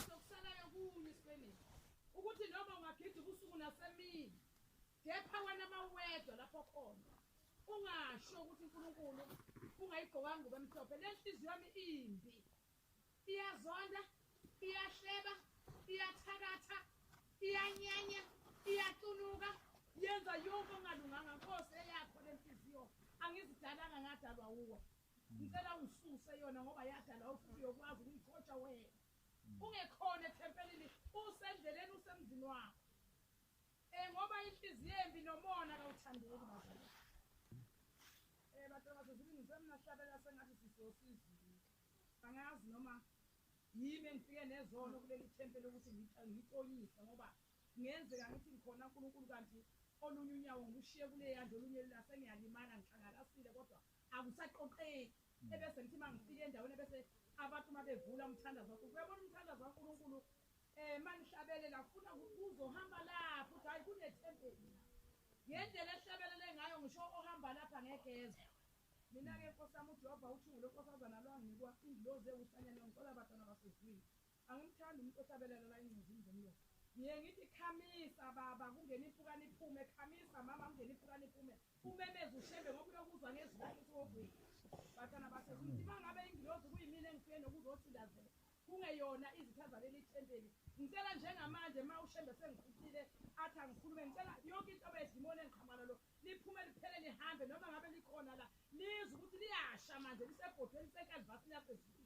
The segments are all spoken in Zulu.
sokusalayo kunye isipenishi ukuthi noma ungagida ubusuku nasemini kepha wena mawedwa lapho khona ungasho ukuthi unkulunkulu ungayigqokanga ngubo emhlophe le nhliziyo yami imbi iyazonda iyahleba iyathakatha iyanyanya iyacunuka yenza yonke ongalunganga nkosi eyakho le nhliziyo angizidalanga ngadalwa wuwe ngicela ungisuse yona ngoba yadala ofuthi uyokwazi ukuyikotsha wena ungekhona ethempelini usendleleni usemzini wakho um ngoba inhliziyo embi nomona kawuthandeki bazali um eh, batabase zilingisemnahlabela sengathi sisosizini angazi noma yimi engifike nezono kuleli thempeli ukuthi ngixolise ngoba kungenzeka ngithi ngikhona unkulunkulu kanti olunye unyawo ngilushiye kuleyandla olunye lulasengiyalimala ngixangalasile kodwa akusaqoqeki ebese ngithi uma ngifika endaweni ebese abantu uma bevula umthandazo wakho uyabona umthandazo wankulunkulu um eh, uma nihlabelela funa kuzohamba lapho ukuthi hhayi kunethempeli ngendlela ehlabelele ngayo ngisho ohamba lapha ngegeza mina-ke nkosi yami ujehova uthungule nkosazana lwanginikwa ingilozi ewuhlanyana ngicela abantwana basezwini Angimthandi umuntu ohlabelelana ingcizini zomlomo. Ngiye ngithi khamisa baba kungena impukane iphume, khamisa mama kungena impukane iphume. Umemeza ushembe ngoba uyokuzwa ngezwi lakhe siwovile. Bathana basezuthi uma ngabe ingilozi kuyimina engifike nokuzothindazela kungeyona izitha zaleli thempeli. Ngicela njengamanje uma ushembe sengiphuthile athi angikhulume ngicela yonke into bedimoni engiqhamana lo liphume liphele lihambe noma ngabe likhona la lizwe ukuthi liyasha manje lisebhodweni lisenkalivasini yasezuthi.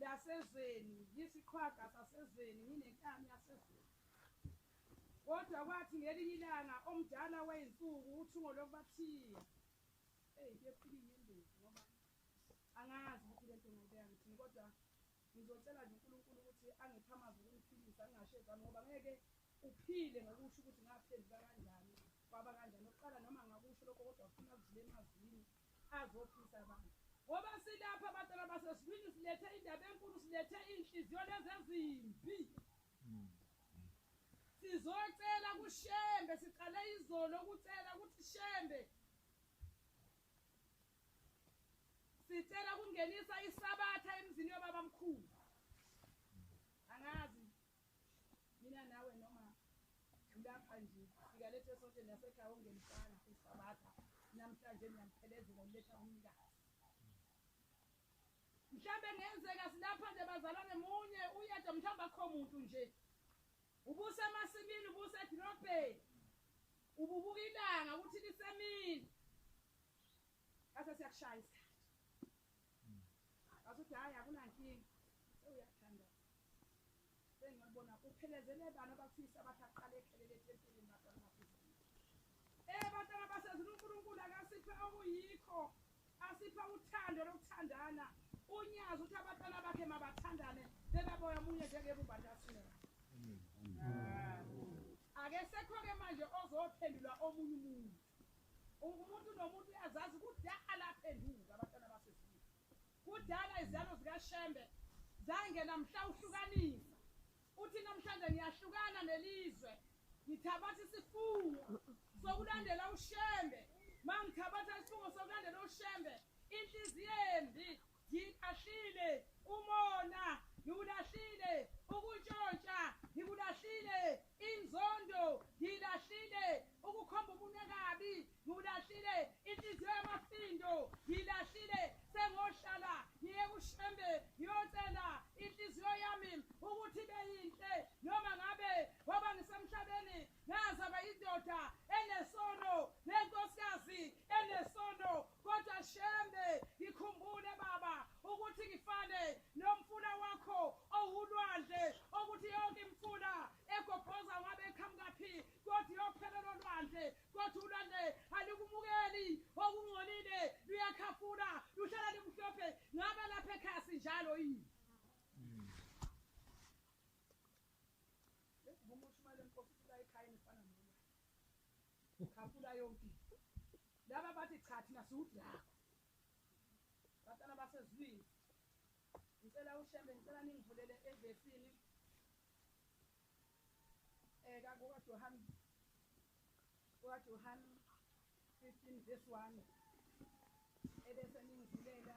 lasezweni, ngiyisiqhwaga sasezweni, nginenkani yasezweni. Kodwa kwathi ngelinye ilanga omdala wey'nsuku uthungo lokubathiya. Eyi, kuyophila inyembezi ngoba angazi ukuthi le nto ngayibeka ngithini kodwa ngizocela nje uNkulunkulu ukuthi angiphe amazwi okungiphilisa ngingashezami ngoba ngeke uphile ngokusho ukuthi ngaphenduka kanjani kwaba kanjani. Okokuqala noma ngakusho lokho kodwa ufuna kudlula emazwini. azophisa abantu ngoba silapha bantwana basesibini silethe indaba enkulu silethe iy'nhliziyo lezi ezimbi sizocela kushembe siqale izolo ukucela ukuthi shembe sicela ukungenisa isabatha emzini yobaba mkhulu angazi Mina nawe noma lapha nje sikalethe sonke nasekhaya ongemfana usabatha namhlanje niyamthelezela uletha umnikazi mhlawumbe ngenzeka silapha nje bazalwane munye uyedwa mhlawumbe akho muntu nje ubusemasimini ubusedrobheni ububuka ilanga ukuthi lisemini ase siyakushaya isikhathi Asuthi hayi akunankinga. Uyathanda. Sengiyabona uphelezele bani abafisa abathi aqale ekhelele etempelini baqala bafisa. Eh bantwana basezulu uNkulunkulu akasiphe okuyikho. Asipha uthando lokuthandana. Unyazi uthi abantwana bakhe mabathandane bebaboya omunye njengebumba ntasina. Akesekho-ke manje ozophendula omunye umuntu. Umuntu nomuntu uyazazi kudala aphenduka abantwana basezulwini. Kudala izalo zikaShembe zange namhla uhlukanisa. Uthi namhlanje ngiyahlukana nelizwe. Ngithabatha isifungo sokulandela uShembe. Mangithabatha isifungo sokulandela uShembe, inhliziyo embi Ngilahlile umona, ngiwulahlile ukuntshontsha, ngikulahlile inzondo, ngilahlile ukukhomba umunwe kabi, ngiwulahlile inhliziyo yamafindo, ngilahlile sengohlala ngiye kushembe ngiyocela inhliziyo yami ukuthi ibe yinhle noma ngabe ngoba ngisemhlabeni ngazalwa indoda enesono nenkosikazi enesono Kodwa Shembe, ngikhumbule baba ukuthi ngifane nomfula wakho owulwandle okuthi yonke imfula egobhoza ngabe eqhamukaphi kodwa iyophela lolwandle kodwa ulwandle alikumukeli okungcolile luyakhafula luhlala limhlophe ngabe lapha ekhaya sinjalo yini ukhafula yonke into laba bathi cha thina siwudrago batana basezwini ngicela ushembe ngicela ningivulele evesini eka eh, kukajohane kukajohane 15 verse 1 ebese ningivulela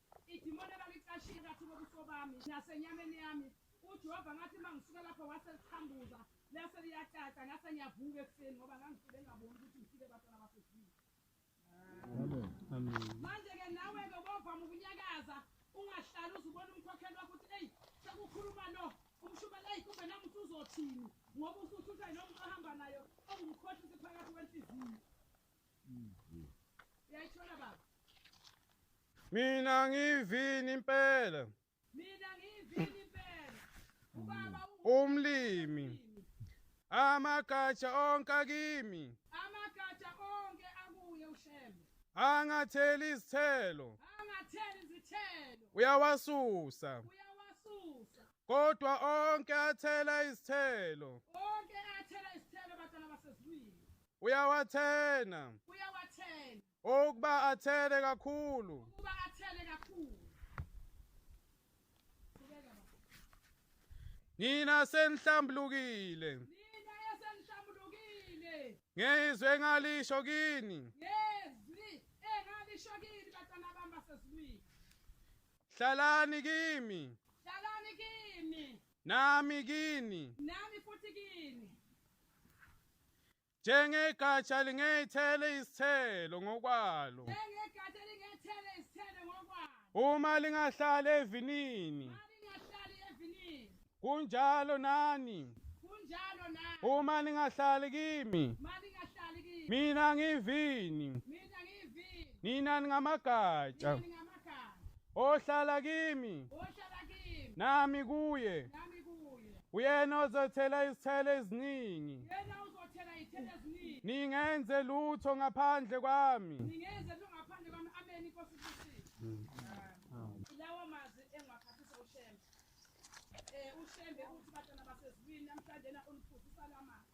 Idimoni ebalicashile kathi kobuso bami nasenyameni yami uJehova ngathi uma ngisuke lapho wase liqhambuza lase liyacaca ngase ngiyavuka ekuseni ngoba ngangifike ngaboni ukuthi ngifike batana basedlini manje-ke nawe-ke ubovama ukunyakaza ungahlali uze ubone umkhokheli wakho ukuthi eyi sekukhuluma lo umshumela eyi kumbe nami uthi uzothini ngoba usuthi uthe noma uhamba nayo ongumkhohlisi phakathi kwenhliziyo Uyayithola baba? Mina ngivini impela. Mina ngivini impela. Ubaba umlimi. Amagatsha onke akimi. Amagatsha onke akuye uShembe. Angatheli izithelo. Angatheli izithelo. Uyawasusa. Uyawasusa. Kodwa onke athela izithelo. Onke Uyawathena. Uyawathena. Ukuba athele kakhulu. Ukuba athele kakhulu. Nina senihlambulukile. Nina esenihlambulukile. Ngezwe engalisho kini. Ngezwi engalisho kini batana bami basezulwini. Hlalani kimi. Nami kini. Nami futhi kini. Njengegatsha lingethele isithelo ngokwalo. Njengegatsha lingethele isithelo ngokwalo. Uma lingahlali evinini. Uma lingahlali evinini. Kunjalo nani. Kunjalo nani. Uma lingahlali kimi. Uma lingahlali kimi. Mina ngivini. Mina ngivini. Nina ningamagatsha. Nina ohlala kimi nami kuye uyena ozothela izithelo eziningi ningenze lutho ngaphandle kwami lawa mazwi engiwaphathisa ushembe um ushembe uthi batana basezulwini namhlanjena uniphuzisa la mazwi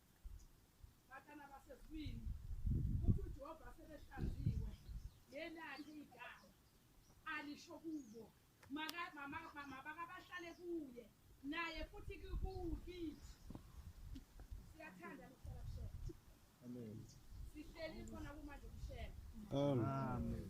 Batana basezwini ukuthi uJehova sebehlaziwe yelakhe igama alisho kubo mabakabahlale kuye naye futhi kukithi siyathanda luhlala kushela amen sihleli khona kumanje kushela amen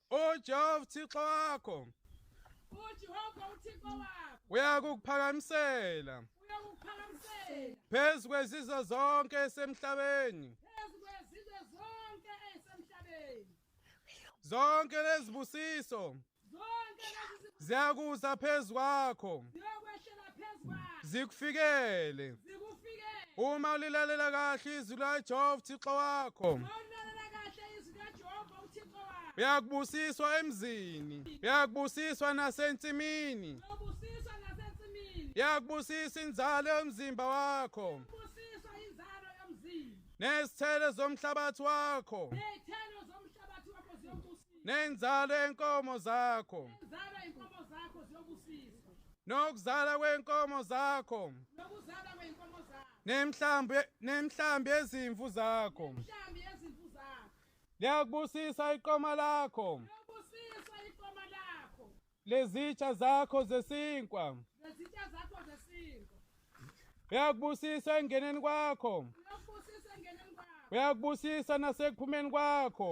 ujehova uthixo wakho ujehova uthixo wakho uyakukuphakamisela uyakukuphakamisela phezu kwezizwe zonke esemhlabeni phezu kwezizwe zonke esemhlabeni zonke lezibusiso zonke lezibusiso ziyakuza phezu kwakho ziyokweshela phezu kwakho zikufikele zikufikele uma ulilalela kahle izwi likaJehova uThixo wakho uma ulilalela kahle izwi uyakubusiswa emzini uyakubusiswa nasensimini uyakubusisa inzalo yomzimba wakho nezithelo zomhlabathi wakho nenzalo yenkomo zakho nokuzala kwenkomo zakho nemhlambi nemhlambi ezimvu zakho nemhlambi ezimvu zakho liyakubusisa iqoma lakho liyakubusisa iqoma lakho lezitsha zakho zesinkwa lezitsha zakho zesinkwa uyakubusisa engeneni kwakho uyakubusisa engeneni kwakho uyakubusisa nasekuphumeni kwakho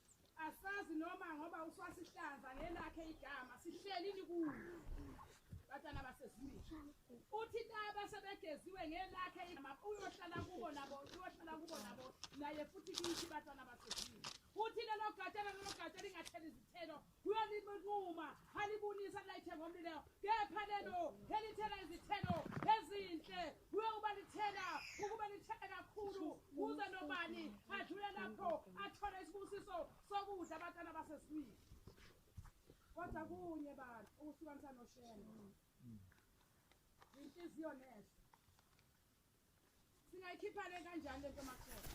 Asazi noma ngoba uswasihlanza ngelakhe igama sihleli likuyo. Batana basezimini. Uthi laba sebegeziwe ngelakhe igama uyohlala kubo nabo uyohlala kubo nabo naye futhi kithi batana basezimini. Uthi lelo gatshana lelo gatshana ingathela izithelo kuyolinquma alibunisa lilayithe ngomlilo kepha lelo elithela izithelo ezinhle kuye uba lithela ukuba lithele kakhulu kuze nobani adlule lapho athole isibusiso sokudla abantwana basesibili kodwa kunye bantu ukuhlukanisa noshena inhliziyo nesho singayikhipha le kanjani le ntomakhona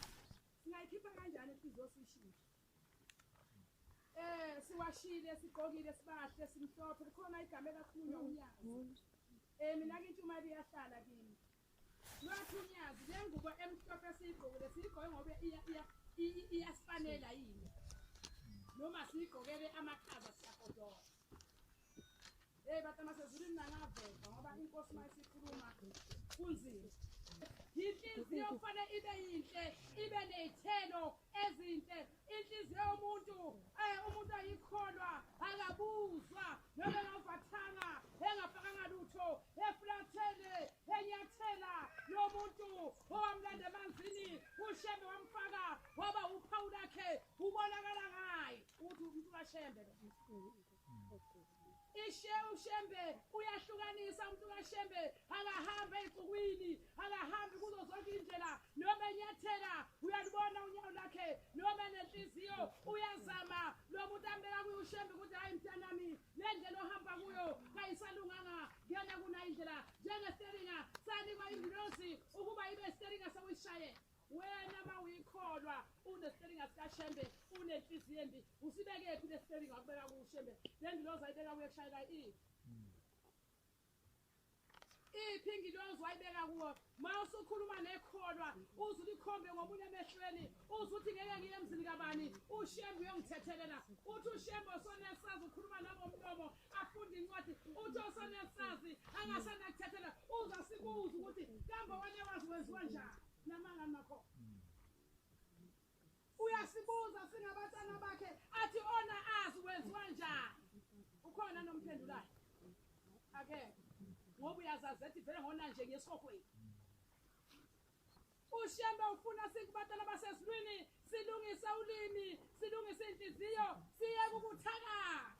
singayikhipha kanjani inhliziyo siyishintshe Eh siwashile sigqokile sibahle simhlophe kukhona igama elakhulunywa unyazi. Eh mina ke intshumayelo iyahlala kimi. Lwathi unyazi le ngubo emhlophe siyigqokile siyigqoke ngoba iya iya i- iyasifanela yini. Noma siyigqokele amakhaza siyagodola. Hey batama sezulwini nangaveva ngoba inkosi mayisikhuluma kunzima. Inhliziyo kufanele ibe yinhle, ibe nezithelo ezinhle. Inhliziyo yomuntu eh umuntu ayikholwa, akabuzwa, noma engavatanga, engafakanga lutho, eflathele, enyathela lo muntu owamlanda emanzini, ushembe wamfaka waba uphawu lakhe, ubonakala ngaye ukuthi umuntu kaShembe. ishe ushembe uyahlukanisa umuntu kashembe akahambe ey'nsukwini akahambi kuzo zonke iy'ndlela noma enyathela uyalibona unyawo lakhe noma nenhliziyo uyazama lo muntu ambeka kuyo ushembe ukuthi hhayi mntanami le ndlela ohamba kuyo kayisalunganga kuyona kunayo indlela njengesteringa sanikwa ingilosi ukuba ibe steringa sewuyishayela Wena mawuyikholwa unespelinga sikaShembe unenhliziyo embi usibekephi lespelinga wakubeka kuShembe lengilozi ayibeka kuye kushayeka i iphi ngilozi wayibeka kuwo ma usukhuluma nekholwa uze ulikhombe ngomunye emehlweni uze uthi ngeke ngiye emzini kabani ushembe uyongithethelela uthi ushembe osonesazi ukhuluma nangomlomo afunda incwadi uthi osenesazi angasenakuthethela uza sikubuza ukuthi kambe wanyawazi wenziwa njani namanga nakhona uyasibuza singabatana bakhe athi ona azi wenziwa njani ukhona nomphendulayo akekho ngoba uyazazi ethi vele ngona nje ngesihogweni ushembe ufuna sikubatala basezulwini silungise ulimi silungise inhliziyo siyeke ukuthakatha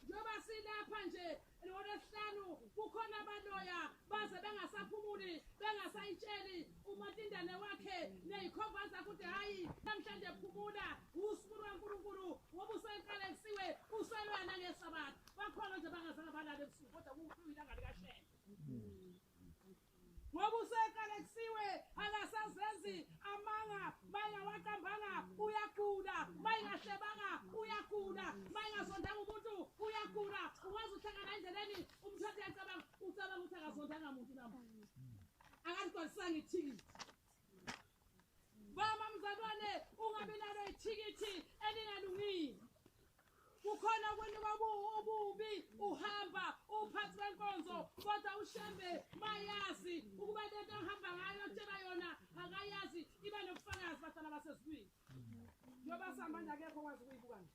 njengoba silapha nje ngolwesihlanu kukhona abaloya baze bengasaphumuli bengasayitsheli umatindane wakhe neyikhova zakuthi hhayi namhlanje phumula usuku lwankulunkulu ngoba useqale kusiwe uselwana ngesabatha bakhona nje bangazange balale ebusuku kodwa kuwuyilanga likashembe ngoba useqalekisiwe akasazenzi amanga mayingawaqambanga uyagula mayingahlebanga uyagula mayingazondanga umuntu uyagula ukwazi uhlangana endleleni umthathe yacabanga ucabanga ukuthi akazondanga muntu nabo akazigcwalisanga ithikithi Mama mzalwane ungabe nalo ithikithi elingalungile. Kukhona kwenu kwabubi uhamba uphathi wenkonzo kodwa ushembe mayazi ukuba lento ohamba ngayo tshela yona akayazi iba nobufakazi bahlala basezulwini. Njoba sihamba nje akekho kwazi ukuyibuka nje.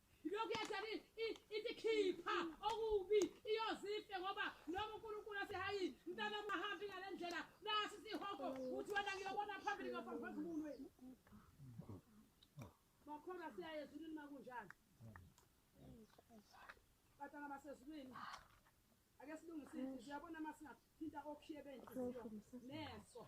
lokhu yathani ithi khipha okubi iyozife ngoba noma unkulunkulu asihayi mntana mahambi ngale ndlela nasi sihogo uthi wena ngiyobona phambili ngiyofambisa umuntu wenu bakhona siyaye ezulwini makunjani batana basezulwini ake silungisise siyabona uma singathinta okhiye benhliziyo neso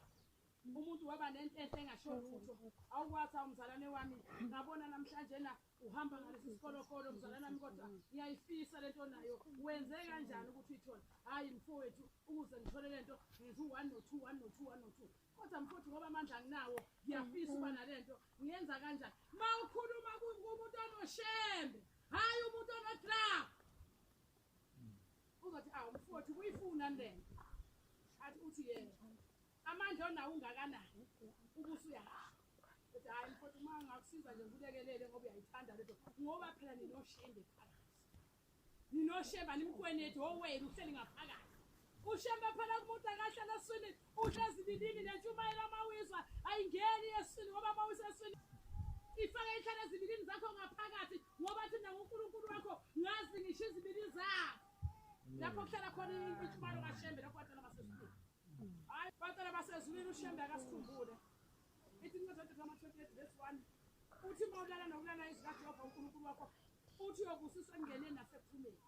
umuntu waba nentenhle engasho lutho awukwazi awumzalwane wami ngabona namhlanje na uhamba ngalesi sikolokolo mzalana wami kodwa ngiyayifisa le nto nayo wenze kanjani ukuthi uyithole hhayi mfowethu ukuze ngithole le nto ngenza u-one no-two one no-two one no-two kodwa mfowethu ngoba amandla nginawo ngiyafisa uba nale nto ngiyenza kanjani ma ukhuluma kumuntu onoshembe hhayi umuntu onodrag uzothi awu mfowethu kuyifunani le nto athi uthi yena Amandla onawo ungakanani ubusu uyahamba. Kodwa hayi mfowethu uma ngakusiza nje ngikulekelele ngoba uyayithanda lento ngoba phela ninoshembe phakathi. Ninoshemba nimkwenethi owenu uhleli ngaphakathi. Ushembe phela kumuntu akahlala eswini uhlezi lilini nentshumayelo amawizwa ayingeni eswini ngoba mawisa eswini ifake ihlala ezibilini zakho ngaphakathi ngoba thina nguNkulunkulu wakho ngazi ngisho izibilini zakho lapho kuhlala khona intshumayelo kashembe lapho watshela baseswini hayi bacela basezulwini ushembe akasikhumbule ithi incwadi yodedama 28 verse 1 uthi uma ulala nokulala izikajehova unkulunkulu wakho uthi uyobusiswa ekungeneni nasekuphumeni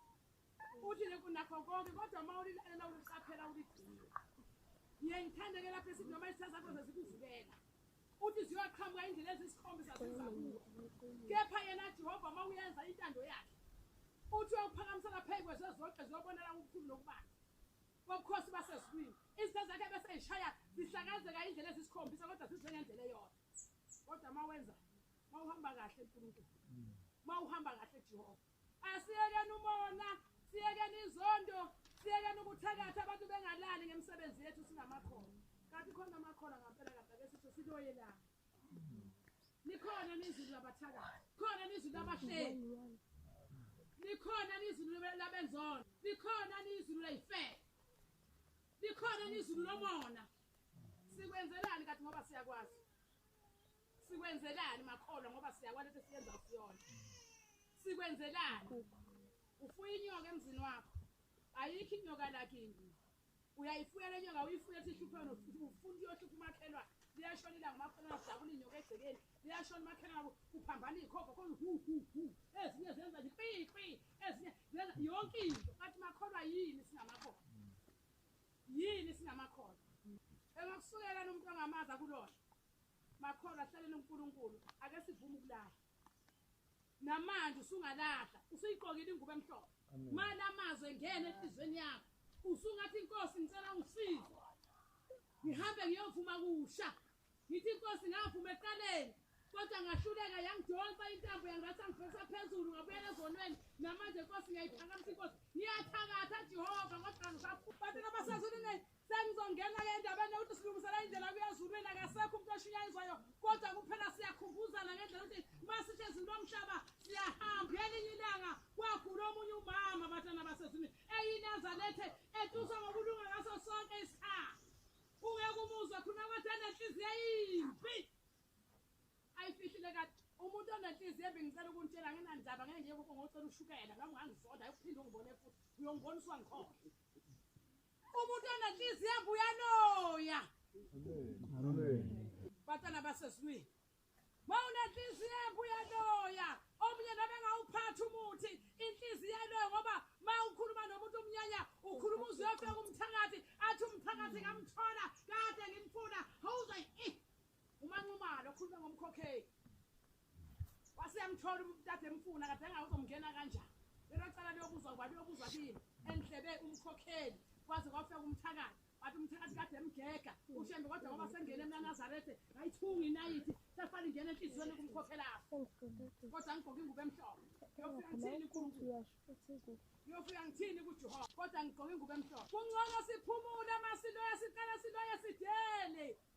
uthi nakho konke kodwa uma ulilalela uliqaphela uligcina ngiye ngithandeke lapho esithi noma izitha zakho zezikuvukela uthi ziyoqhamuka indlela ezisikhombisa zizakuwe kepha yena jehova uma uyenza intando yakhe uthi uyokuphakamisela phezu kwezezonke ziyobonela ukukhulu nokubanzi Wobukhosi basezulwini. Izinto zakhe bese eyishaya zihlakazeka indlela ezisikhombisa kodwa zizengendlela eyodwa. Kodwa uma wenza uma uhamba kahle uNkulunkulu. Uma uhamba kahle Jehova. Asiyekeni umona, siyekeni izondo, siyekeni ukuthakatha abantu bengalali ngemisebenzi yethu sinamakhono. Kanti khona amakhono ngampela kanti ake sisho siloyelana. Nikhona nizulu labathaka. Khona nizulu labahleli. Nikhona nizulu labenzona. Nikhona nizulu layife. Nikhona nizulu lomona. Sikwenzelani kathi ngoba siyakwazi. Sikwenzelani makholwa ngoba siyakwazi ukuthi siyenza usiyona. Sikwenzelani? Ufuya inyoka emzini wakho. Ayikho inyoka lakini. uyayifuya le nyoka uyifuya ethi ihluphe wena ufuna uyohlupha umakhelwane liyashona ilanga umakhelwane ajabula inyoka egcekeni liyashona umakhelwane kuphambana iy'khova khona hu hu hu ezinye zenza nje kpi kpi ezinye zenza yonke into kathi makholwa yini singamakholwa yini singamakholwa engakusukela nomuntu angamazi akulona makholwa hlaleni unkulunkulu ake sivume ukulahla namanje usungalahla usuyiqokile ingubo emhlophe mali amazwi engene enhliziyweni yakho usungathi inkosi ngicela ungisize ngihambe ngiyovuma kusha ngithi inkosi ngavuma eqaleni kodwa ngahluleka yangidonsa intambo yangathi angivesa phezulu ngabuyela ezonweni namanje inkosi ngiyayiphakamisa inkosi ngiyathakatha jehova kodwa ngisabatela basazuluneni Sengizongena ke endabeni yokuthi silungisela indlela kuyezulwini akasekho umuntu oshunyayizwayo kodwa kuphela siyakhumbuzana ngendlela ukuthi uma sisho ezulu lomhlaba siyahamba elinye ilanga kwagula omunye umama abatana basezwini eyinezalethe etuswa ngokulunga ngaso sonke isikhathi ungeke umuzwe khuluma kwathi enenhliziyo yimbi ayifihlile kade umuntu onenhliziyo embi ngicela ukuntshela nginandaba ngeke ngiye kubo ngocela ushukela nami ngangizonda ayokuphinde ungibone futhi uyongibona uswangikhona umuntu onenhliziyo embi uyaloya batana basesizwini ma unenhliziyo embi uyaloya omunye nabe ngawuphathi umuthi inhliziyo eloyo ngoba ma ukhuluma nomuntu omnyanya ukhuluma uze uyofika umthakathi athi umthakathi ngamthola kade ngimfuna howuze umanxumalo okhuluma ngomkhokheli waseyamthola umuntu kade emfuna kade engawe uzomngena kanjani lelo cala liyobuzwa kuba liyobuzwa kini endlebe umkhokheli kwaze kwafika umthakathi wathi umthakathi kade emgega ushembe kodwa ngoba sengene emnanazarethe ngayithunga inayithi sefana ingena enhliziyweni kumkhokhelapho kodwa ngigqoke ingubo emhlophe yofika ngithini kunkulu yofika ngithini kujehova kodwa ngigqoke ingubo emhlophe kungcono siphumule masiloya siqala siloye sidele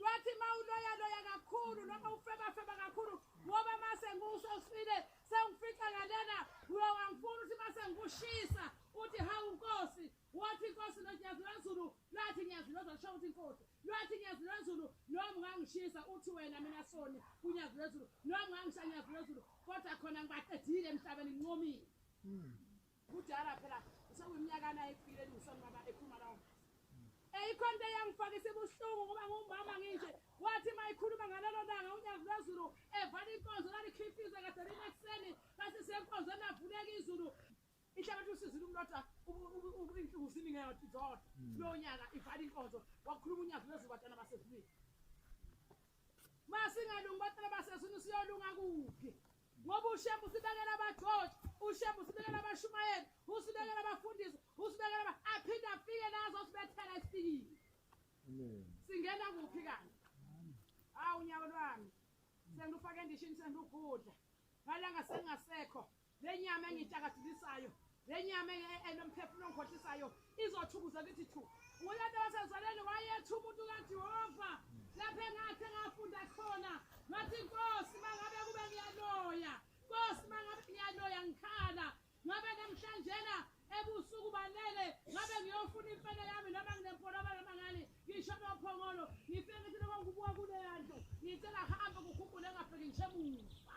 lwathi uma uloyaloya kakhulu noma ufebafeba kakhulu ngoba uma sengiwusho usifile sengifica ngalena uyo wangifuna ukuthi uma sengikushisa uthi hawu nkosi wathi inkosi lonyazi lwezulu lwathi nyazi lwezulu asho ukuthi inkosi lwathi nyazi lwezulu noma ungangishisa uthi wena mina soni kunyazi lwezulu noma ungangisha nyazi lwezulu kodwa khona ngibaqedile emhlabeni ngincomile hmm. Kudala phela usewunyaka naye kufile lungson baba ekhuluma lawo. Eyikhonto eyangifaka isibuhlungu ngoba ngumama nginje wathi mayikhuluma ngalelo langa unyazi lwezulu evala inkonzo lalikhifiza kade linekuseni base senkonzweni lavuleka izulu ihlabathi usizile umlota inhlungu ziningi ngathi zodwa hmm. kulo nyaka ivala inkonzo wakhuluma unyazi lwezulu batana basezulwini masingalungi batana basezulwini siyolunga kuphi ngoba ushembe usibekela abageorge ushembe usibekela abashumayeli usibekela abafundisi usibekela aba- aphinde afike nazo sibethela esifikile singena kuphi kani hawu unyawo lwami sengilufake endishini sengilugudla ngalanga sengingasekho le nyama engiyitshakadilisayo Le nyama e- e- enomphefumulo ongikhohlisayo izothukuza kithi thu. Uyena wasezalweni wayetha umuntu kaJehova. Lapho engathi engafunda khona, ngathi Nkosi mangabe kube ngiyaloya. Nkosi mangabe ngiyaloya ngikhala. Ngabe namhlanjena ebusuku banele ngabe ngiyofuna imfene yami noma nginempolaba noma ngani ngisho amaphongolo ngifike ngithi noma ngibuka kuleya ndlu ngicela hamba kukhumbule engafiki ngisho emuva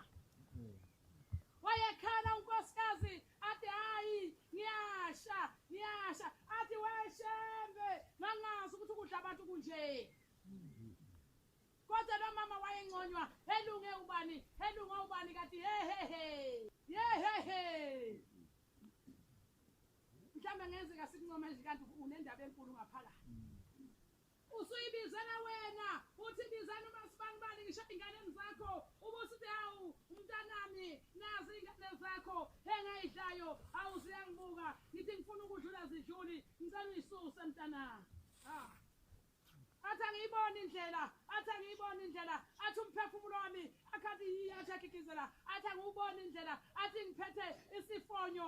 wayekhala unkosikazi athi hayi ngiyasha ngiyasha athi weshembe ngangazi ukuthi ukudla abantu kunje kodwa lo mama wayenconywa helunge ubani helunge ubani kathi hehehe yehehe mhlawumbe ngenzeka sikuncoma nje kanti unendaba enkulu ngaphakathi Usuyibizela wena uthi bizani umasibanibani ngisho ey'nganeni zakho ubusithi hawu mntanami nazi iy'ngane zakho engayidlayo hawu ziyangibuka ngithi ngifuna ukudlula zidluli ngicela uyisuse mntana ah. athi angiyiboni indlela athi angiyiboni indlela athi umphefumulo wami akhathi yiyathi akhikizela athi angiwuboni indlela athi ngiphethe isifonyo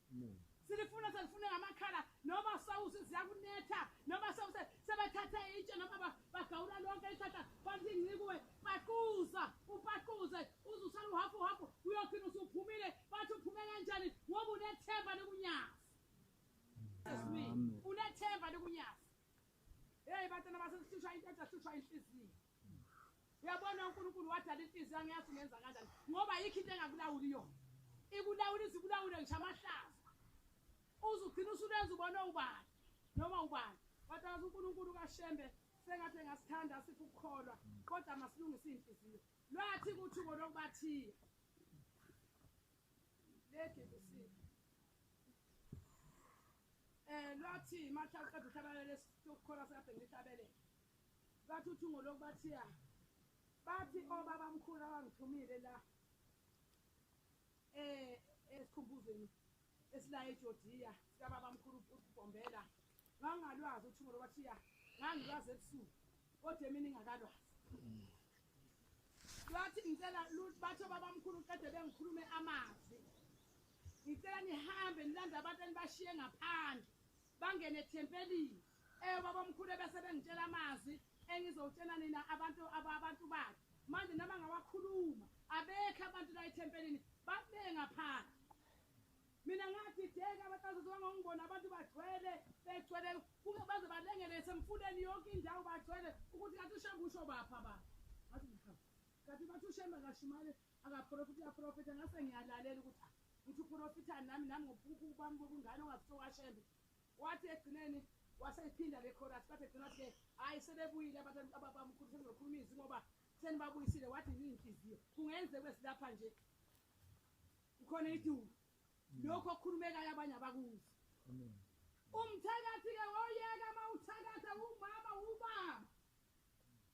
silifuna selifune ngamakhala noma sawusi ziyakunetha noma sawuse sebethathe itshe noma bagawula lonke ihlahla bathi incikuwe paquza upaquze uze usale uhafu uhafu uyokhina usuphumile bathi uphume kanjani ngoba unethemba lokunyazi unethemba lokunyazi heyi bantwana basesihlushwa into ethi ahlushwa inhliziyo Uyabona uNkulunkulu wadala inhliziyo angiyazi ungenza kanjani ngoba yikho into engakulawuli yona. Ikulawula izikulawule ngisho amahlaza. Uzugcina usulenza ubone ubani noma ubani. Batazi uNkulunkulu kaShembe sengathi engasithanda sithi ukukholwa kodwa masilungise inhliziyo. Lwathi ukuthi ubo lokubathiya. Ledi kusiza. Eh lwathi mathi aqeda uhlabelela lesi ukukholwa sekade ngihlabelela. Bathi uthungo lokhu bathiya. Bathi obaba mkhulu abangithumile la. Eh esikhumbuzweni esila eJordia sika baba mkhulu uBombela. Ngangalwazi uthungo lokhu bathiya. Ngangilwazi ebusuku. Kodwa emini ngakalwazi. Bathi ngicela bathi obaba mkhulu qede bengikhulume amazwi. Ngicela nihambe nilanda abantu enibashiye ngaphandle. Bangene ethempelini. Eh babamkhulu ebese bengitshela amazwi engizowutshela nina abantu abantu bakhe. Manje noma ngawakhuluma abekho abantu la ethempelini babe ngaphandle. Mina ngathi deka abatazizwa ngongibona abantu bagcwele begcwele kuke baze balengele semfuleni yonke indawo bagcwele ukuthi kathi ushe kusho bapha ba. Ngathi ngihamba. Kathi bathi ushe makashimale akaprofita uyaprofita ngase ngiyalalela ukuthi ah, ngithi uprofita nami nami ngokuphupha ubami bokungane ongazithoka shembe Wathi ekugcineni waseyiphinda le chorus bathi egcina wathi ke hhayi sebebuyile abantu ababamkhulu sebezokhuluma izwi ngoba senibabuyisile wathi yinhliziyo kungenzeka besilapha nje kukhona iduku mm. lokhu okukhulumekayo abanye abakuzi umthakathi-ke woyeka uma uthakatha umama ubaba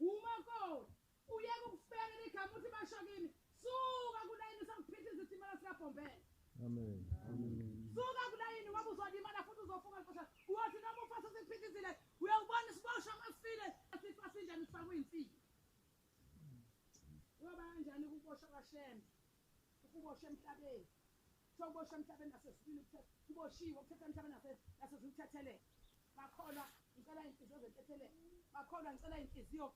umakoti Uyeke ukufela igama uthi basho kimi. Suka kulayini usakuphitha izitimela sikabhombela. Amen. Amen. Suka kulayini ngoba uzolimala futhi uzofuka nkosi. Uyothi noma ufasa sikuphithizile uyawubona isiboshwa masifile asifa sinjani sifakwe insini. Uyoba kanjani ukuboshwa kaShembe? Ukuboshwa emhlabeni. Kuthiwa uboshwa emhlabeni nasesibili kuboshiwe ukuthetha emhlabeni nasezimthethelele. Bakholwa ngicela inhliziyo zethethelele. Bakholwa ngicela inhliziyo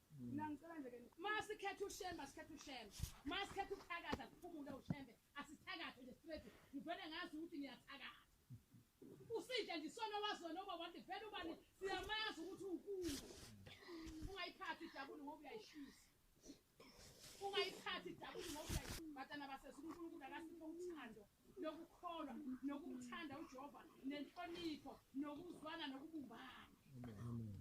Mina ngicela nje ke masikhethe ushembe asikhethe ushembe. Masikhethe ukuthakaza kuphumule ushembe asithakathe nje straight. Ngivele ngazi ukuthi ngiyathakatha. Usidla nje isona wazona uba wande vele ubani siyamazi ukuthi ukulu. Ungayiphathi ijabuli ngoba uyayishisa. Ungayiphathi ijabuli ngoba uyayishisa. Batana basezulu uNkulunkulu akasiphe uthando lokukholwa nokumthanda uJehova nenhlonipho nokuzwana nokubumbana. Amen.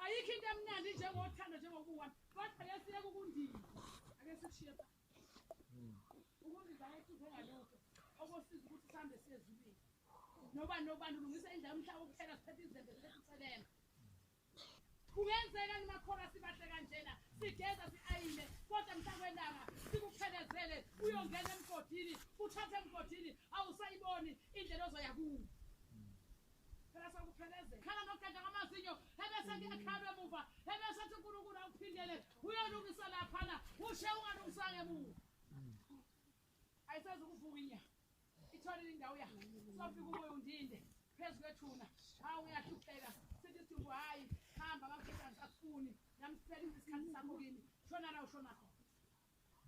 ayikho into emnandi njengothando njengokuwa kodwa yesiyeka ukundiza ake sikushiye pha ukundiza ayehluphe ngalokho okosiza ukuthi sihambe siye ezulwini noba nobani ulungisa indlela umhlaba ukuphela siphethe izembe siphethe usebenza kungenzeka nimakhona sibahle kanjena sigeza si-ayine kodwa mntakwelanga sikuphelezele uyongena emgodini uthathe emgodini awusayiboni indlela ozoya kuwo Phela sakupheleze. Khala noqeda ngamazinyo ebese kuyakhalwa emuva ebese athi uNkulunkulu awuphindele uyolungisa laphana ushe ungalungisanga emuva. Ayisazi ukuvuka inya. Itholile indawo yakhe. Sofika umoya undinde phezu kwethuna. Hawu uyahlupheka. Sithi sithi hayi hamba ngakufika ngisafuni. Namsela isikhathi sakho kimi. Shona la ushona khona.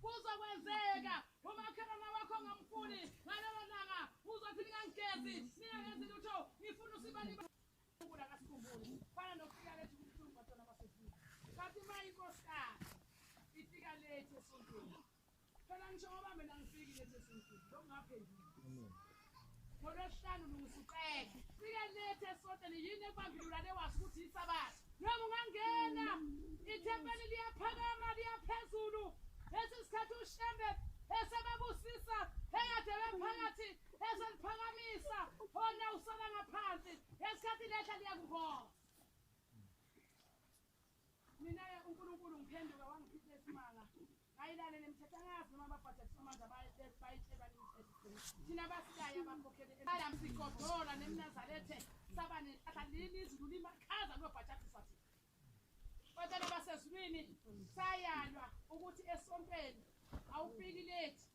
Kuzokwenzeka umakhelwane wakho ngamfuni ngalelo langa uzothi ningangigezi ningangenzi lutho ngifuna usibaliba ukula kasikhumbuli fana nokufika lethu kubuhlungu batona basefika kanti uma inkosikazi ifika lethu esontweni phela ngisho ngoba mina ngifiki lethu esontweni lokungaphenduli ngolwesihlanu lungisa uqele fike lethe esoteni yini ekubambululane wazi ukuthi yisabatha noma ungangena ithempeli liyaphakama liyaphezulu lesi sikhathi ushembe esebabusisa eyade bephakathi eseliphakamisa ona usala ngaphansi ngesikhathi lehla liyakuvona Mina-ke uNkulunkulu ngiphenduka wangichitha isimanga ngayilalela imithetho angazi noma ababhajatisa amandla bayitshelwa imithetho thina basilayo abakhokheli adam sigodola nemnazarethe saba nenhlahla lini izulu limakhaza lobhajatisa thina kodwa basezulwini sayalwa ukuthi esontweni awufiki lethi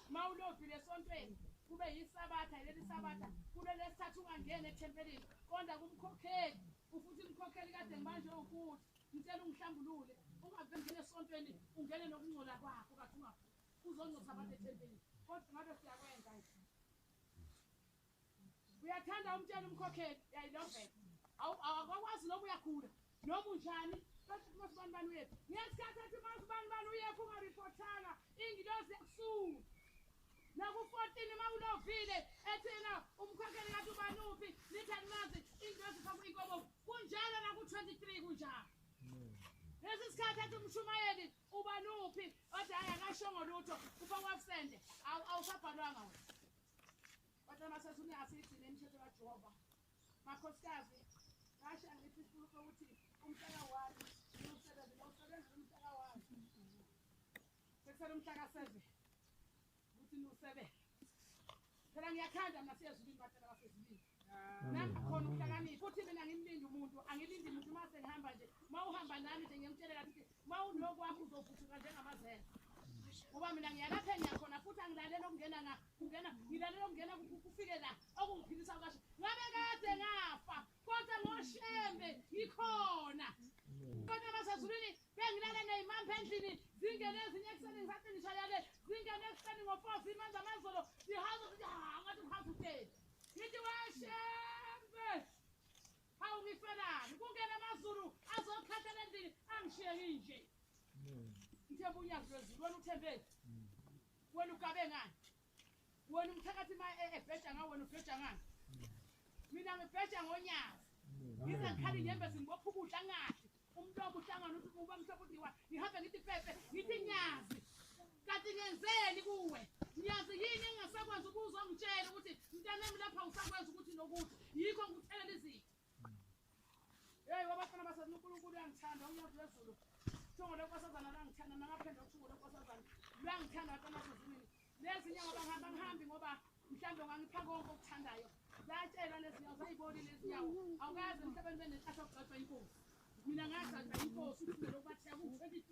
Uma ulobhile esontweni kube yisabatha yileli sabatha kulelesithathu ungangeni ethempelini konda kumkhokheli ufuthi umkhokheli kade ngibanje ukuthi ngicela ungihlambulule ungavengeni esontweni ungene nokungcola kwakho kathi ungaphi uzongcosa abantu ethempelini kodwa ngabe siyakwenza nje uyathanda umtshela umkhokheli yayilovela awakwazi noma uyakhula noma unjani masibani bani uyephi ngesikhathi ethi masibani bani uyephi ungaripotanga ingilozi yakusunga naku-fourteen uma ulovile ethina umkhokheli kathi ubani uphi nithi animazi ingilozi faka inkobo kunjalo naku-twenty-three kunjalo lesi sikhathi ethi umshumayeli ubani uphi othi hayi akashongo lutho ufakwa absende awusabhalwanga wena kodwa masese uyasigcina imithetho kajehova makhosikazi ngasho angithi isifuna sokuthi umhlaka wami umsebenzi lowusebenzela umhlaka wami sekusele umhlaka seve ukuthi niwusebele phela ngiyathanda mna siyezulwini batshela basezulwini nami khona ukuhlakanipha futhi mina ngimlindi umuntu angilindi muntu uma sengihamba nje uma uhamba nami nje ngiyamtshele kathi ukuthi uma unokwakho uzovuthulwa njengamazela ngoba mina ngiyalapha engiyakhona futhi angilaleli okungena na kungena ngilaleli okungena kufike la okungiphilisa kasho ngabe kade ngafa kodwa ngoshembe ngikhona kodwa basezulwini bengilale ney'mampa endlini zingene ezinye ekuseni ngisathi ngishayale zingene ekuseni ngo-four zimanje amazolo zihazo zithi ha ngathi uhazi uteni Ngithi washembe. Hawu ngifelani? Kungena amaZulu azokhathala endlini angishiye nginje. Ngithe buya kulwezulu wena uthembe. Wena ugabe ngani? Wena umthakathi ma e- ebheja ngawe wena ubheja ngani? Mina ngibheja ngonyazi. Ngize ngikhali inyembezi ngibopha ukudla ngadli. umlomo uhlangana uthi uba mhlophe udiwa ngihambe ngithi pepe ngithi nyazi kanti ngenzeni kuwe nyazi yini engasakwazi ukuzwa ngitshela ukuthi mntanami lapha usakwazi ukuthi nokuthi yikho ngikuthelela izinto yeyi wabafana basazi unkulunkulu uyangithanda unyazi lwezulu thungo lwenkosazana langithanda nangaphendla uthungo lwenkosazana lwangithanda kanasezimini Nezinye ngoba ngihamba ngihambi ngoba mhlawumbe ngangipha konke okuthandayo. Zatshelwa lezi nyawo zayiboni lezi nyawo. Awukazi emhlabeni benenhlanhla okugcotshwa inkosi. Mina ngagcotshwa inkosi ukuthi mina lokwatheka ku-23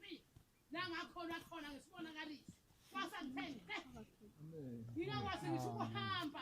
la ngakhona khona ngesibonakaliso. Kwasa ngithenge. Ngingakwazi ngisho ukuhamba.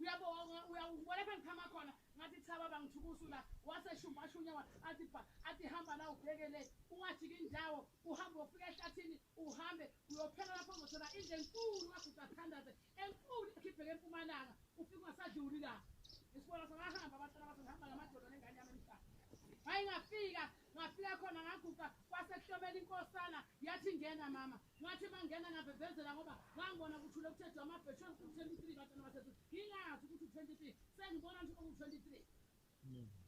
uyabonga uyawubona pha ngiphama khona ngathi thaba bangithukusu la waseshumpashunya wa athi bha athi hamba la ubheke le ungajiki indawo uhambe ufike ehlathini uhambe uyophela lapho uzothola indlu enkulu kaguda thandaze enkulu ikhipheke empumalanga ufike ungasadluli la isibona sangahamba abantwana bathi ngihamba namadoda nengane yami emhlaba hayi ngafika ngafika khona ngaguqa kwasekuhlomela inkosana yathi ngena mama Ngathi mangena ngavevezela ngoba ngangibona kuthule kuthe du amabhe shem ku 23 batshana basethu ngingazi ukuthi u 23 sengibona nje oku 23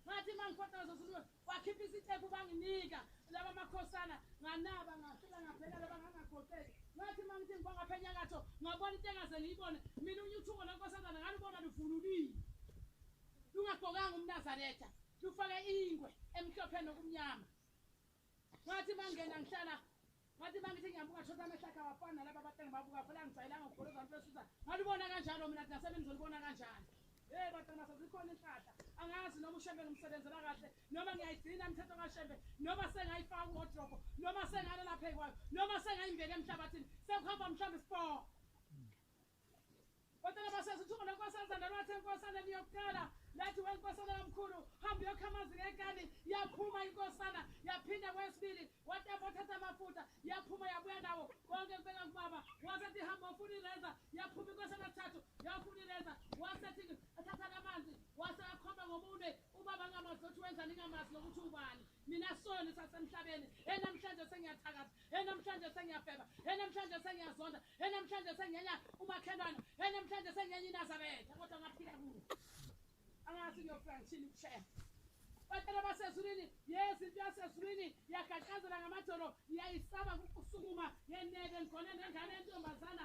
ngathi mangifotoza sulu wakhipha isitepu banginika laba makhosana nganaba ngafika ngabheka laba ngangagoteki ngathi mangithi ngiba ngapha enyakatho ngabona into engaze ngiyibone mina unyuthuko lenkosazana ngalubona luvunulile lungagqokanga umnazaretha lufake ingwe emhlophe nokumnyama ngathi mangena ngihlala ngathi mangithi ngiyabuka thosa amehlo akhe awafani nalaba batana babuka phela ngijayelanga ukugoloza abantu besusa ngalibona kanjalo mina kungasebe ngizolibona kanjani Hey batana masazikhona inhlahla angazi noma ushembe ngimsebenzela kahle noma ngiyayigcina imithetho kashembe noma sengayifaka uwodrobo noma sengalala phekwakhe noma sengayimbeka emhlabathini sekuhamba mhlawumbe isipoho Kodwa labaseza uthungo lenkosazana lwathi enkosana niyokuqala lathi wenkosana kamkhulu hamba uyokha amanzi ngekani yaphuma inkosana yaphinda kwesibili watapa wathatha amafuta yaphuma yabuya nawo konke kubeka kubaba wasethi hamba ufuna ireza yaphuma inkosana thathu yafuna ireza wasethi athatha lamanzi wase akhomba ngomunwe ubaba angamazi ukuthi wenzani ingamazi lokuthi ubani mina soni sasemhlabeni enamhlanje sengiyathakatha he namhlanje sengiyafeba he namhlanje sengiyazonda he namhlanje sengiyenya umakhelwana he namhlanje sengiyenya inazaretha kodwa ngaphila kuwo angazi ngiyofika ngishini ukushaya batshela basezulwini yezi into yasezulwini yagaqazela ngamadolo yayisaba ukusukuma yeneke ngigone nengane yentombazana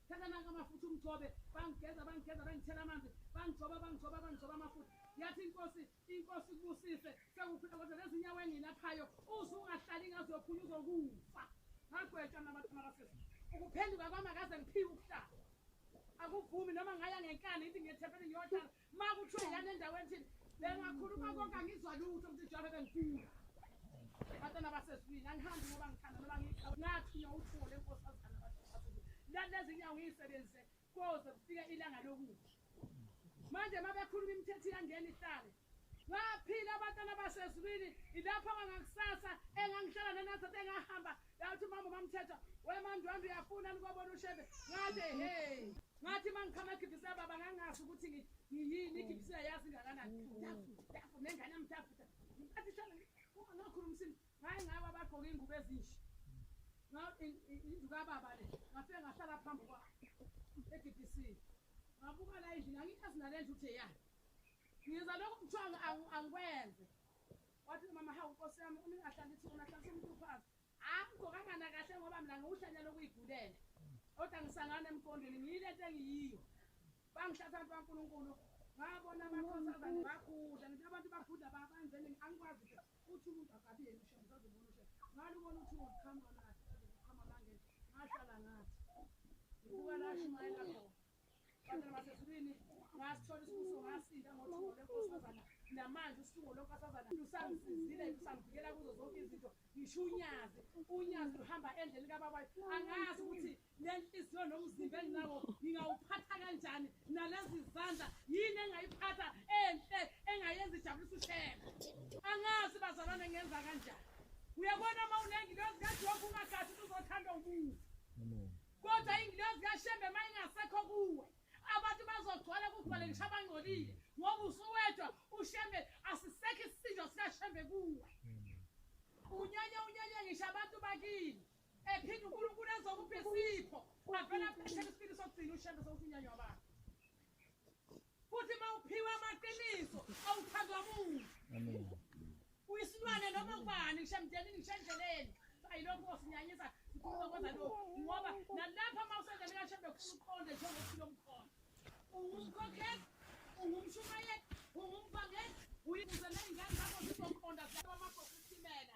thatha nanka amafutha umgcobe bangigeza bangigeza bangithela amanzi bangigcoba bangigcoba bangigcoba amafutha yathi inkosi inkosi kubusise sekukhula kodwa lezinyawo engilaphayo uze ungahlali ngaze uyokhunye uzokufa ngagwetsha mna abantu makasisi ukuphenduka kwami akaze ngiphiwe ukuhlala akuvumi noma ngaya ngenkani ithi ngethempele ngiyohlala Makuthiwe lana endaweni thini bengakhuluma konke angizwa lutho ukuthi njengoba bengifika. Batana baseswini angihambi ngoba ngithanda noma ngiqhawe ngathi uyawuthole inkosi azana bathi. Lana ezinyawo ngiyisebenzise koze kufike ilanga lokuthi. Manje mabekhuluma imithetho iyangena ihlale. Ngaphila abatana baseswini ilapho kangakusasa engangihlala nenathathe engahamba Yathi mama mamthetha wemandwandwe uyafuna nikobona ushebe ngathi hey ngathi uma ngichama gibhisa baba ngangazi ukuthi ngiyini igibhisa yazi ingakanani mtafu nengane mtafu ngathi shana uma ngakhulumisini ngaye ngaba bagqoke ingubo ezinhle indlu kababa le ngafike ngahlala phambi kwa e-DBC ngabuka la endlini angikazi nale ndlu ukuthi eyani ngiza lokhu kuthiwa angikwenze Wathi umama hawu nkosi yami umuntu ahlala ithi wona ahlala umtuphazi. Angigqokangana kahle ngoba mina ngiwuhlanya lokuyigulela. Kodwa ngisangana emqondweni ngiyile nto engiyiyo. Bangihlatha abantu baNkulunkulu. Ngabona amakhosazane bakhudla ngithi abantu bakhudla babanjeni angikwazi nje uthi umuntu akabiyeni ushe ngizazibona ushe. Ngalubona uthi uqhamuka nathi uqhamuka ngangeni. Ngahlala ngathi. Ngibuka la shumayela khona. namanje usuku lonkosazana lusangisizile lusangivikela kuzo zonke izinto ngisho unyazi unyazi luhamba endleleni kababayo angazi ukuthi le nhliziyo nomzimba enginawo ngingawuphatha kanjani nalezi zandla yini engayiphatha enhle engayenza ijabulisa ushela angazi bazalwane ngenza kanjani uyabona uma unengilozi kajoba ungagathi uzothanda umuzi kodwa ingilozi kashembe uma ingasekho kuwe abantu bazogcwala kugcwale ngisho abangcolile ngoba usuwedwa ushembe asisekho isisinjo sikashembe kuwe unyanya unyanya ngisho abantu bakini ephinde unkulunkulu ezokupha isipho avele aphethe isipili sokugcina ushembe sokuthi unyanya wabantu Futhi mawuphiwa amaqiniso awuthandwa muntu. Amen. Uyisilwane noma ubani ngisho emndenini ngisho endleleni. Ayilokho osinyanyisa sikhuluma kwenza lokho ngoba nalapha uma usendleleni kashembe kufuna uqonde njengophilo omkhona. Ungumkhokheli, ungumshumayeli, ungumvangeli, uyibuze nezingane zakho zizoqonda zalwa amagogo usimela.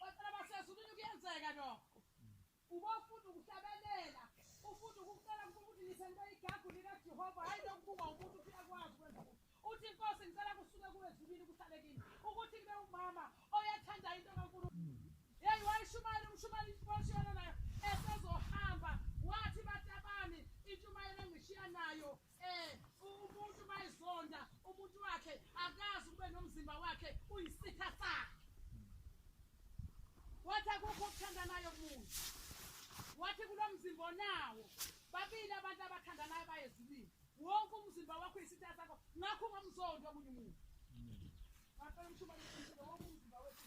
Bacela basezulwini kuyenzeka lokho. Ubofunda ukuhlabelela, ufunda ukucela ukuthi ngisento igagu lika Jehova hayi lokubukwa umuntu ukuthi akwazi ukwenza ukuthi. Uthi inkosi ngicela kusuke kuwe ezulwini kuhlale kimi. Ukuthi kube umama oyathanda into kaNkulunkulu. Hey wayishumayela umshumayeli inkosi yona nayo esezohamba wathi batabani intshumayelo engishiya nayo Eh, umuntu bayizonda umuntu wakhe akazi ukube nomzimba wakhe uyisitha sakhe wathi akukho okuthandanayo kumuntu wathi kulo mzimba onawo babili abantu abathandanayo bayezulile wonke umzimba wakho uyisitha sakho ngakho ungamzondi omunye umuntu ngapela umshuba wonke umzimba wethu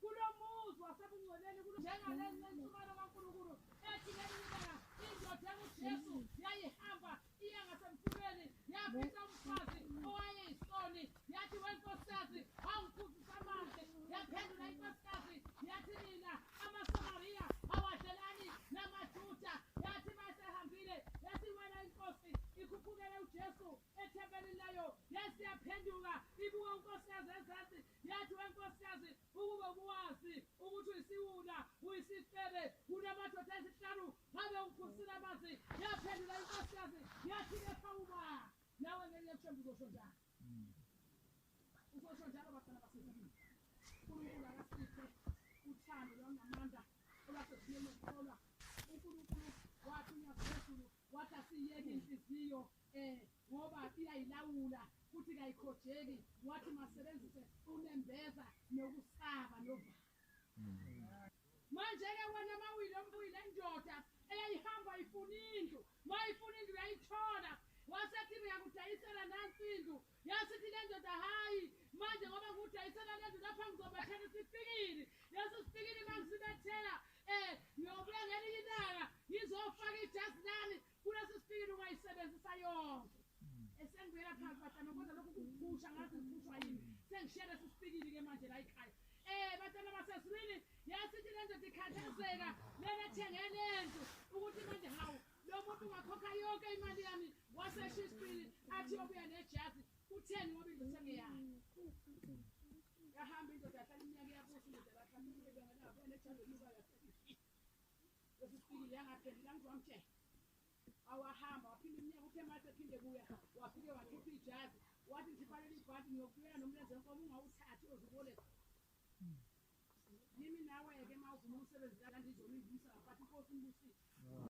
Kulo muzi wasebungcweleni kulo njengaleli lentsumelo kaNkulunkulu ethi ngelinye ilanga indoda enguJesu yayihamba iya ngasemfuleni yafica umfazi owayeyisoni yathi wenkosikazi awungiphuzisa amanzi yaphendula inkosikazi yathi nina amasamariya awadlelani namajuda yathi masehambile yathi wena inkosi ikhuphukele ujesu ethempelini layo yasiyaphenduka ibuka unkosikazi ezansi Yathi, We nkosikazi, ukube ubuwazi ukuthi uyisiwula, uyisifebe, kunamadoda ayisihlanu ngabe ungiphusile amanzi. Yaphendula inkosikazi yathi, Kepha uma nawe ngelinye ethemba uzosho njalo. Uzosho njalo bafana baseZulwini. UNkulunkulu akasiphe uthando lwangamandla olwasezinye lokukholwa. UNkulunkulu wathi uNyazi lwezulu wathi asiyeke inhliziyo Eh ngoba iyayilawula futhi kayikhojeki wathi masebenzise unembeza nokusaba novalo. Manje ke wena mawile ombuyile indoda eyayihamba ifuna indlu mayifuna indlu yayithola wasethi ngiyakudayisela nansi indlu yasithi le ndoda hayi manje ngoba ngudayisela le ndlu lapha ngizobethela isipikili lesi sipikili mangisibethela um ngiyobuya ngelinye ilanga ngizofaka ijazi lami Kulesi sipikili ungayisebenzisa yonke. Esengibuyela phansi batana kodwa lokhu kuphusha ngathi ngiphushwa yini. Sengishiya lesi sipikili ke manje la ekhaya. Eh batana baseswini yasithi lento dikhathazeka lena thenge lento ukuthi manje hawu lo muntu ungakhokha yonke imali yami wasesha isipili athi obuya nejazi kutheni ngoba into sengeyakhe. Yahamba indoda yahlala iminyaka yabusa indoda yahlala iminyaka yabusa indoda yahlala iminyaka yabusa. wahamba waphinde umnyaka uthe mase phinde kuya wafike wakhipha ijazi wathi ngifanele ibhanti ngiyokubuyela nomlenze wenkomo ungawuthathi oziboleka yimi nawe-ke ma uvuma umsebenzi kanti izolingisa ngafathi inkosi umbusile